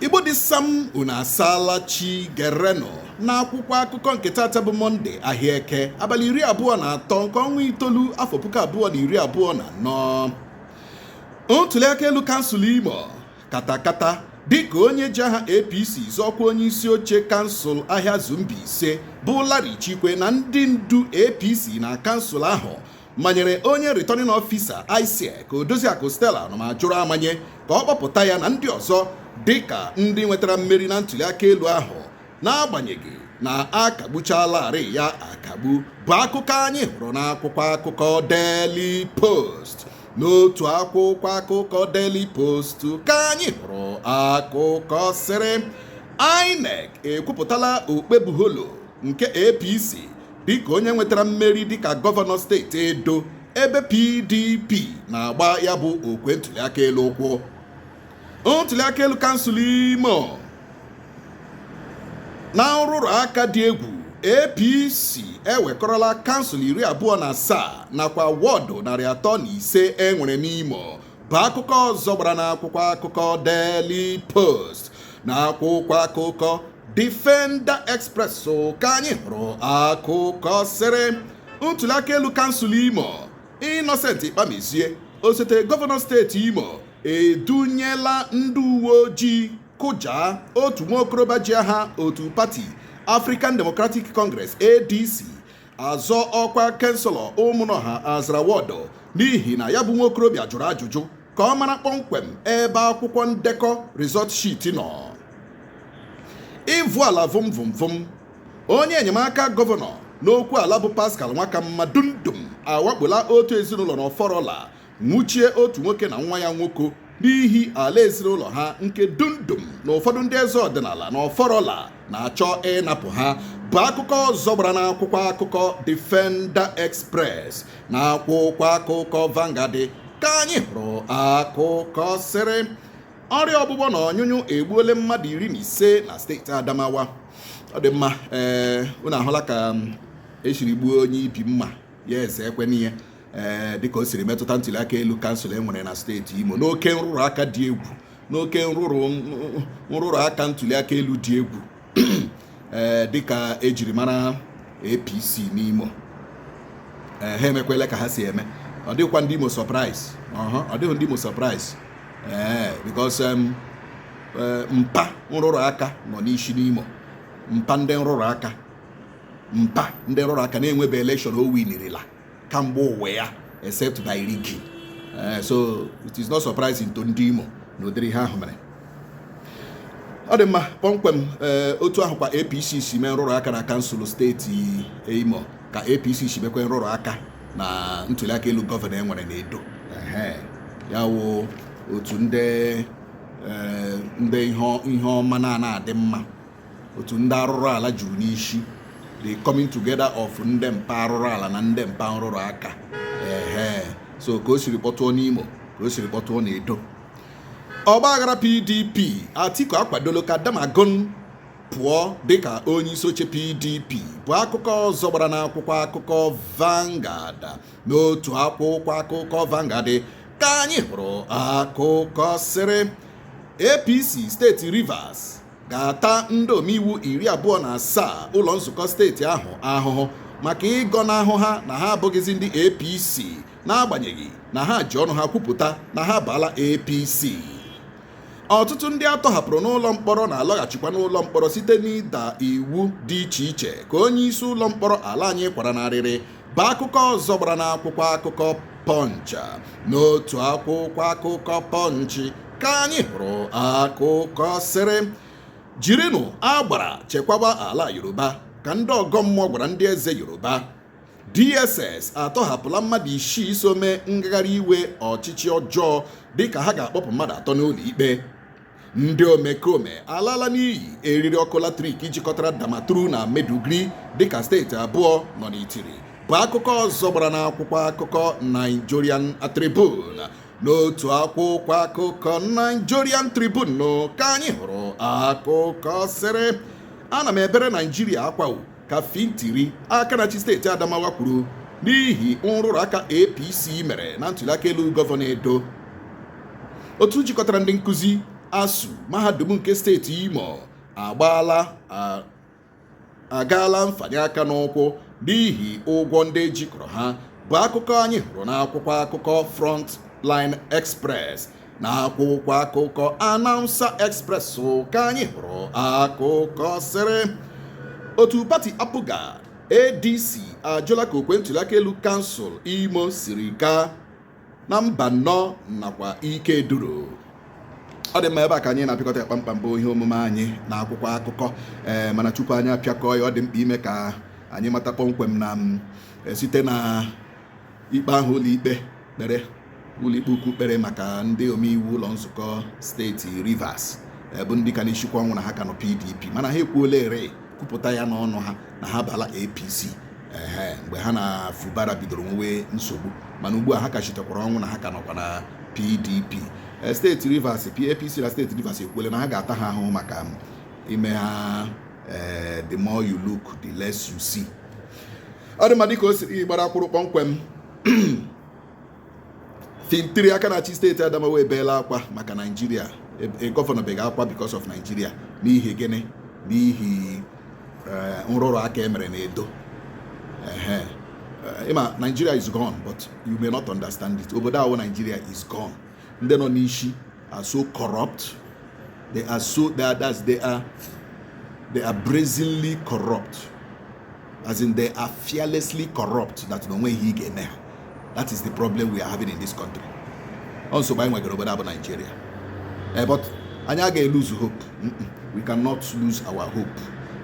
igbo dị sam unu asaala chi gerenụ n'akwụkwọ akụkọ nke taata bụ mọnde ahịa eke abalị iri abụọ na atọ nke ọnwa itoolu afọ puku abụọ na iri abụọ na anọ ntuliaka elu kansụl imo katakata dịka onye ji aha apc zọọ ọkwa onye isi oche kansụl Ahịazu Mbaise bụ Larry Chikwe na ndị ndu APC na kansụl ahụ manyere onye returning officer ISIEC Odoziakụ Stella Ọnụmajuru amanye ka ọ kpọpụta ya na ndị ọzọ dịka ndị nwetara mmeri na ntụliaka elu ahụ n'agbanyeghị na a kagbuchalarị ya akagbu bụ akụkọ anyị hụrụ n'akwụkwọ akụkọ Daily Post n'otu akwụkwọ akụkọ Daily Post ka anyị hụrụ akụkọ sịrị INEC ekwupụtala Okpebholo nke APC dịka onye nwetara mmeri dịka gọvanọ steeti Edo ebe PDP na-agba ya bụ okwe ntuliaka elu ụkwụ ntuliaka elu kansụl imo na nrụrụ aka dị egwu APC ewekọrọla kansụl iri abụọ na asaa nakwa wọdụ narị atọ na ise e nwere n'Imo bụ akụkọ ọzọ gbara n'akwụkwọ akụkọ Daily Post na akwụkwọ akụkọ Defender Express ka anyị hụrụ akụkọ sịrị ntuliaka elu kansụl Imo Innocent Ikpamezie osote gọvanọ steeti Imo edunyela ndị uwe ojii kụja otu nwa okorobịa ji aha otu pati African Democratic Congress ADC azọ ọkwa kanselọ ụmụnọha azara wọdụ n'ihi na ya bụ nwa okorobịa jụrụ ajụjụ ka ọ mara kpọmkwem ebe akwụkwọ ndekọ result sheet nọ ịvụ ala vụm vụm vụm onye enyemaka gọvanọ n'okwu ala bụ Pascal Nwakanma Dumdum awakpola otu ezinụlọ n'Ọfọrọla nwụchie otu nwoke na nwa ya nwoke n'ihi ala ezinụlọ ha nke Dumdum na ụfọdụ ndị eze ọdịnala na ọfọrọla na-achọ ịnapụ ha bụ akụkọ ọzọ gbara n'akwụkwọ akụkọ Defender Express na akwụkwọ akụkọ Vanguard ka anyị hụrụ akụkọ sịrị ọrịa ọgbụgbọ na ọnyụnyụ egbuole mmadụ iri na ise na steeti Adamawa ọ dị mma ee eh, unu ahụla ka e siri gbuo onye ibi mma ya eze ekwe n'ihe ee dịka o siri metụta ntuli aka elu kansụl e nwere na steeti Imo n'oke nrụrụ aka dị egwu n'oke nrụrụ nrụrụ aka ntuli aka elu dị egwu ee dịka e jiri mara APC n'Imo ee ha emekwele ka ha si eme ọ dịghịkwa ndị Imo surprise ọ dịghị ndị Imo surprise ee because um, e, mpa nrụrụ aka nọ n'isi n'Imo mpa ndị nrụrụ aka mpa ndị nrụrụ aka na enwebe elekshọn o winirila kamgbe ụwa ya except by rigging eh, so it is not surprising to ndị Imo na ụdịrị ihe ahụ mere ọ dị mma kpọmkwem eh, otu ahụ kwa APC si mee nrụrụ aka na kansụl steeti Imo ka APC si mekwe nrụrụ aka na ntuliaka elu gọvanọ e nwere n'Edo ehe ya wụ otu ndị eh, ihe ọma na-anaghị adị mma otu ndị arụrụ ala juru n'isi the coming together of ndị mpa arụrụ ala na ndị mpa nrụrụ aka ehe so ka o siri kpọtụọ n'Imo ka o siri kpọtụọ n'Edo ọgbaghara PDP Atiku akwadolo ka Damagun pụọ dịka onye isi oche PDP bụ akụkọ ọzọ gbara n'akwụkwọ akụkọ Vanguard n'otu akwụkwọ akụkọ Vanguard ka anyị hụrụ akụkọ sịrị APC steeti Rivers ga-ata ndị omeiwu iri abụọ na asaa ụlọ nzukọ steeti ahụ ahụhụ maka ịgọnahụ ha na ha abụghịzi ndị APC n'agbanyeghị na ha ji ọnụ ha kwupụta na ha baala APC ọtụtụ ndị a tọhapụrụ n'ụlọ mkpọrọ na-alọghachikwa n'ụlọ mkpọrọ site n'ịda iwu dị iche iche ka onye isi ụlọ mkpọrọ ala anyị kwara n'arịrị bụ akụkọ ọzọ gbara n'akwụkwọ akụkọ Punch n'otu akwụkwọ akụkọ Punch ka anyị hụrụ akụkọ sịrị jirinụ agbara chekwaba ala Yoruba ka ndị ọgọ mmụọ gwara ndị eze Yoruba DSS atọhapụla mmadụ isii so mee ngagharị iwe ọchịchị ọjọọ dịka ha ga-akpọpụ mmadụ atọ n'ụlọ ikpe ndị omekome alaala n'iyi eriri ọkụ latrik jikọtara Damaturu na Maiduguri dịka steeti abụọ nọ n'itiri bụ akụkọ ọzọ gbara n'akwụkwọ akụkọ Nigerian Tribune n'otu akwụkwọ akụkọ Nigerian Tribune ka anyị hụrụ akụkọ sịrị ana m ebere Naijiria akwa ka Fintiri aka na-achị steeti Adamawa kwuru n'ihi nrụrụ aka APC mere na ntụliaka elu gọvanọ Edo otu jikọtara ndị nkụzi ASUU mahadum nke steeti Imo agbaala agaala mfanye aka n'ụkwụ n'ihi ụgwọ ndị jikọrọ ha bụ akụkọ anyị hụrụ n'akwụkwọ akụkọ Frontline Express n'akwụkwọ akụkọ Announcer Express ka anyị hụrụ akụkọ sịrị otu pati APGA ADC ajụla ka okwe ntụliaka elu kansụl Imo siri gaa na Mbano nakwa Ikeduru ọ dị mma ebe a ka anyị na-apịkọta ya kpamkpam bụ ihe omume anyị na akwụkwọ akụkọ ee eh, mana tupu anyị apịakọ ya ọ dị mkpa ime ka anyị mata kpọmkwem na mm, eh, site na ikpe ahụ ụlọikpe kpere ụlọikpe ukwu kpere maka ndị omeiwu ụlọ nzukọ steeti Rivers bụ ndị ka na-esikwa ọnwụ na ha ka nọ PDP mana ha ekwuolarị kwupụta ya n'ọnụ ha na ha abaala APC ehe mgbe ha na Fubara bidoro nwewe nsogbu mana ugbu a ha ka sitekwara ọnwụ na ha ka nọkwa na PDP steeti Rivers APC na steeti Rivers ekwuola na ha ga-ata ha ahụhụ maka ime ihe a eh, the more you look the less you see ọ dị mma dịka o siri gbara akwụrụ kpọmkwem Fintiri aka na-achị steeti Adamawa ebeela akwa maka Naijiria e, e, gọvanọ beghị akwa because of Naijiria n'ihi gịnị n'ihi eh, nrụrụ aka e mere na Edo eh, ị ma Nigeria is gone but you may not understand it obodo a wụ Nigeria is gone ndị nọ n'isi are so corrupt. They are so that that's they are they are brazenly corrupt. As in they are fearlessly corrupt that no way he can now. That is the problem we are having in this country. Also by nwegere obodo abụ Nigeria. Eh, but anyị agaghị lose hope. We cannot lose our hope.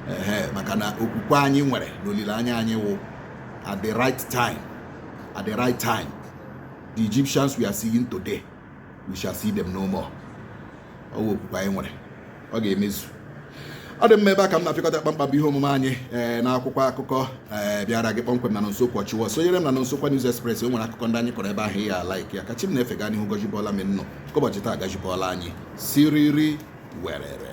Eh, maka na okwukwe anyị nwere na olileanya anyị wụ at the right time at the right time the Egyptians we are seeing today we shall see them no more ọ wụ okwukwe anyị nwere ọ ga-emezu ọ dị mma ebe a ka m na-apịkọta kpamkpam bụ ihe omume anyị ee eh, n'akwụkwọ akụkọ ee eh, bịara gị kpọmkwem na nso kwọchiwa sonyere m na nso kwa News Express o nwere akụkọ ndị anyị kọrọ ebe ahụ ya like ya ka Chi m na-efe gaa n'ihu gọjibọla m nnọ ụbọchị taa gajibọla anyị siriri werere